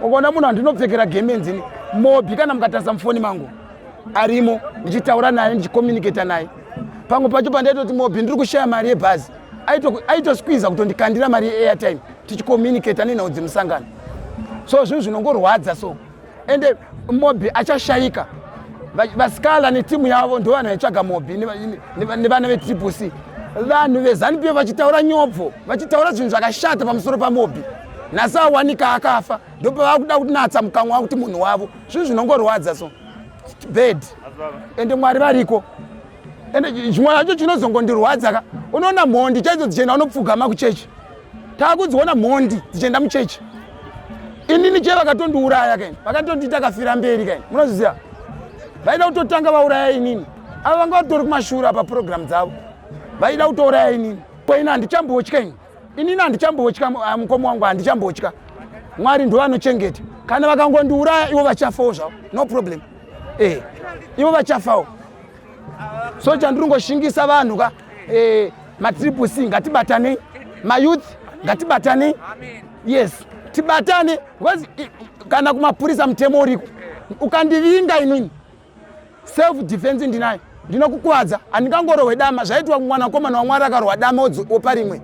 ukaona munhu andinopfekera gemenzi ini mobi kana mukatarisa mufoni mangu arimo ndichitaura naye ndichicommunicata naye pamwe pacho pandaitoti mobi ndiri kushaya mari yebhazi aitosquiza kutondikandira mari yeairtime tichicommunicata nenhau dzemusangano so zvinhu zvinongorwadza so ende mobi achashayika vasikala netimu yavo ndo vanhu vaitsvaga mobi nevana vetriple c vanhu vezanupf vachitaura nyobvo vachitaura zvinhu zvakashata pamusoro pamobi nhasi awanika akafa ndopavakuda kunatsa mukanwa wakuti munhu wavo zvinhu zvinongorwadza so bad ende mwari variko ende chimwe chacho chinozongondirwadza ka unoona mhondi chaidzo dzichienda unopfugama kuchechi taakudziona mhondi dzichienda muchechi inini chee vakatondiuraya kaini vakatondiita kafira mberi kaini munozviziva vaida kutotanga vauraya inini ava vanga vatori kumashura paprogramu dzavo vaida kutouraya inini koina handichambotya ini inini handichambotya ah, mukoma wangu handichambotya mwari ndovanochengeta kana vakangondiuraya ivo vachafawo zvavo no problem eh, ivo vachafawo so chandiri ngoshingisa vanhu ka eh, matriple c ngatibatanei mayouth ngatibatanei yes tibatane because kana kumapurisa mutemo uriko ukandivinga inini self defense ndinayo ndinokukwadza handingangorohwe dama zvaitwa mwanakomana wamwari akarohwa dama opa rimwe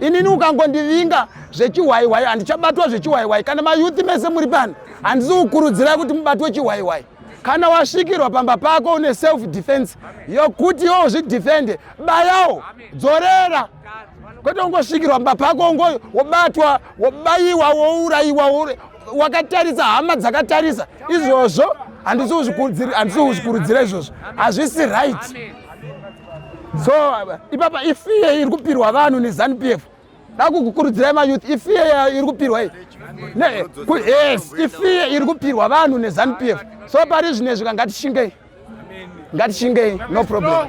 inini ukangondivinga zvechihwaiwai handichabatwa zvechihwaiwai kana mayuthi mese muri pano handisi kukurudzirai kuti mubatwe chihwaiwai kana wasvikirwa pamba pako une self defense yokuti iwo uzvidefende bayawo dzorera kwete ungosvikirwa pamba pako ngo wobatwa wobayiwa wourayiwa wakatarisa hama dzakatarisa izvozvo handisi kuzvikurudzira izvozvo hazvisi right so ipapa ifiye iri kupirwa vanhu nezanup f dakukukurudzirai mayouth ifiye iri kupirwa iyi yes ifiye iri kupirwa vanhu nezanup f so pari zvine zvika ngatishingei ngatishingei no problem